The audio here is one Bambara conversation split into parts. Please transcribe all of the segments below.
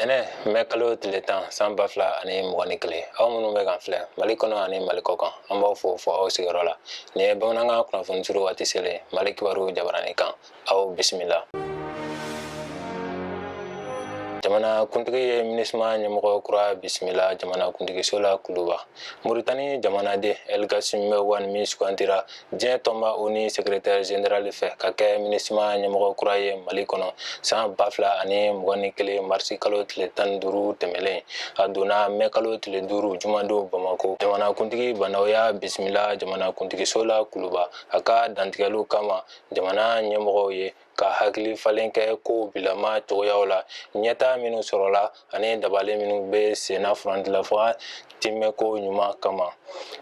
tɛnɛ mɛ kalo tile tan san ba fila ani mugan ni kelen aw minnu bɛ k'an filɛ mali kɔnɔ ani mali kɔkan an b'aw fo fɔ aw sigiyɔrɔ la nin ye bamanankan kunnafoni suru waati selen mali kibaru jabarani kan aw bisimila jamana kuntigi ye minisma ɲɛmɔgɔ kura bisimila jamana kuntigiso la kuluba moritani jamanaden elgasimɛ wani min sugantira diɲɛ tɔnba oni sekretɛri zenerali fɛ ka kɛ minisima ɲɛmɔgɔ kura ye mali kɔnɔ san ba fila ani mugan ni kelen marisi kalo tile tan ni duuru tɛmɛlen a donna mɛ kalo tile duuru jumadon bamako jamanakuntigi bandaw y'a bisimila jamanakuntigiso la kuluba a ka dantigɛliw kama jamana ɲɛmɔgɔw ye ka hakili falen kɛ ko bilama cogoyaw la ɲɛtaa minnu sɔrɔla ani dabali minnu bɛ senna furancɛla fanga tiimɛko ɲuman kama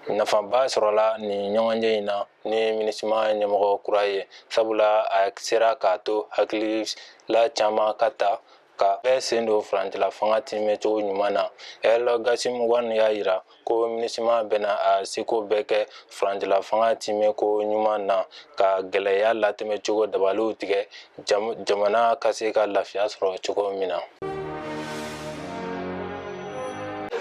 nafaba sɔrɔla nin ɲɔgɔnye in na ni minisima ɲɛmɔgɔ kura ye sabula a sera k'a to hakilila caman ka ta ka bɛɛ sen don furancɛla fanga tiimɛcogo ɲuman na elgasimɛ wani y'a jira ko minisima bɛna a seko bɛɛ kɛ furancɛla fanga tiimɛko ɲuman na ka gɛlɛya latɛmɛcogo dabaliw tigɛ jamana ka se ka lafiya sɔrɔ cogo min na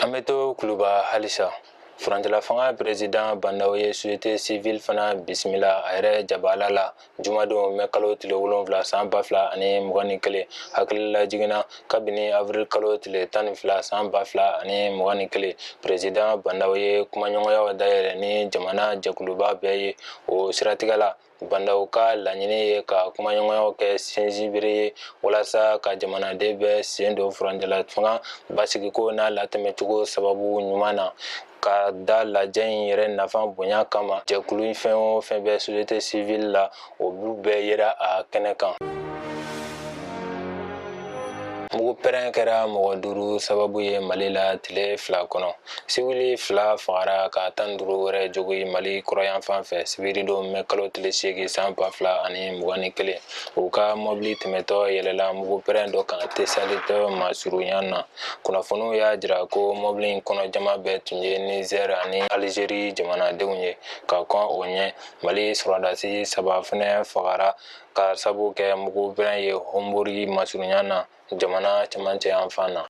an bɛ to kuluba halisa furancɛla fanga peresidan bandaw ye société civile fana bisimila a yɛrɛ jabala la Jumadon mɛ kalo tile wolonwula san ba fila ani mugan ni kelen hakililajigin na kabini awirili kalo tile tan ni fila san ba fila ani mugan ni kelen peresidan bandaw ye kumaɲɔgɔnyaw dayɛlɛ ni jamana jɛkuluba bɛɛ ye o siratigɛ la bandaw ka laɲini ye ka kumaɲɔgɔnyaw kɛ sinsinbere ye walasa ka jamanaden bɛɛ sen don furancɛla fanga basigiko n'a latɛmɛcogo sababu ɲuman na K'a da lajɛ in yɛrɛ nafa bonya kama jɛkulu fɛn o fɛn bɛ société civile la olu bɛɛ yera a kɛnɛ kan. Mugu pɛrɛn kɛra mɔgɔ duuru sababu ye Mali la tile fila kɔnɔ. Siwili fila fagara ka tan duuru wɛrɛ jogi Mali kɔrɔyanfan fɛ sibiridon mɛ kalo tile seegin san ba fila ani mugan ni kelen. U ka mɔbili tɛmɛtɔ yɛlɛla mugu pɛrɛn dɔ kan Tesaliti masurunya na. kunnafoniw y'a jira ko mɔbili in kɔnɔ jama bɛɛ tun ye nizɛr ani alizeri jamanadenw ye ka kɔn o ɲɛ mali sɔrɔdasi saba fɛnɛ fagara k'a sabu kɛ mugu pɛrɛn ye hɔnburi masurunya na jamana cɛmancɛ yanfan na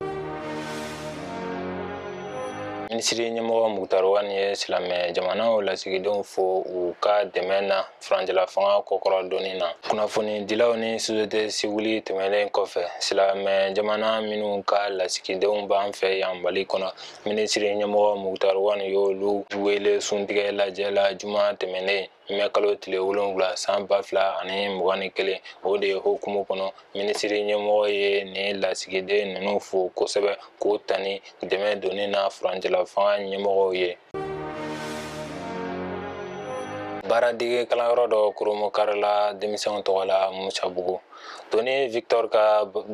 minisiri ɲɛmɔgɔ mukutari wani ye silamɛ jamanaw lasigidenw fo u ka dɛmɛ na furancɛla fanga kɔkɔrɔ donni na kunnafonidilaw ni sosiyete siwili tɛmɛnen kɔfɛ silamɛ jamana minnu ka lasigidenw b'an fɛ yan mali kɔnɔ minisiri ɲɛmɔgɔ mukutari wani y'olu wele suntigɛ lajɛ la juma tɛmɛnen mɛ kalo tile wolonwula san ba fila ani mugan ni kelen o de ye hukumu kɔnɔ minisiri ɲɛmɔgɔ ye nin lasigiden ninnu fo kosɛbɛ k'u tanu dɛmɛ donni na furancɛla fanga ɲɛmɔgɔw ye baaradege kalanyɔrɔ dɔ kurunbonkarila denmisɛnw tɔgɔ la musabugu toni victor ka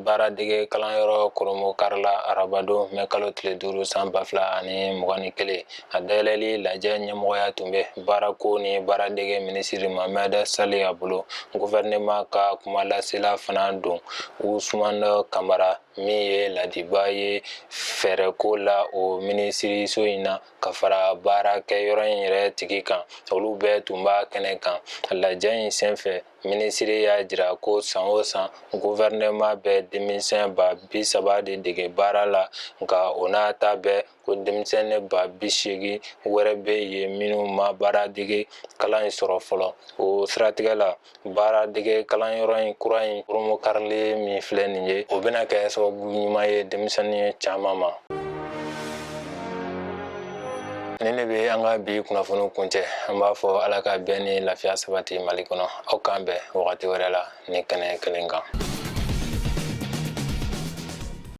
baaradege kalanyɔrɔ kurunbonkarila arabadon mɛ kalo tile duuru san ba fila ani mugan ni kelen a dayɛlɛli lajɛ ɲɛmɔgɔya tun bɛ baarako ni baaradege minisiri mohamɛd saliya bolo guvɛrɛnɛma ka kumalasela fana don usumana kamara min ye laadibaa ye fɛɛrɛko la o minisiriso in na ka fara baarakɛ yɔrɔ in yɛrɛ tigi kan olu bɛɛ tun b'a kɛnɛ kan lajɛ in senfɛ minisiri y'a jira ko san o san gouvernement bɛ denmisɛn ba bi saba de dege baara la nka o n'a ta bɛɛ ko denmisɛnnin ba bi seegin wɛrɛ bɛ yen minnu ma baara dege kalan in sɔrɔ fɔlɔ o siratigɛ la baara dege kalanyɔrɔ in kura in kurunbonkarilen min filɛ nin ye o bɛna kɛ sababu ɲuman ye denmisɛnnin caman ma nin de bɛ an ka bi kunnafoni kuncɛ an b'a fɔ ala ka bɛn ni lafiya sabati mali kɔnɔ aw k'an bɛn wagati wɛrɛ la ni kɛnɛ kelen kan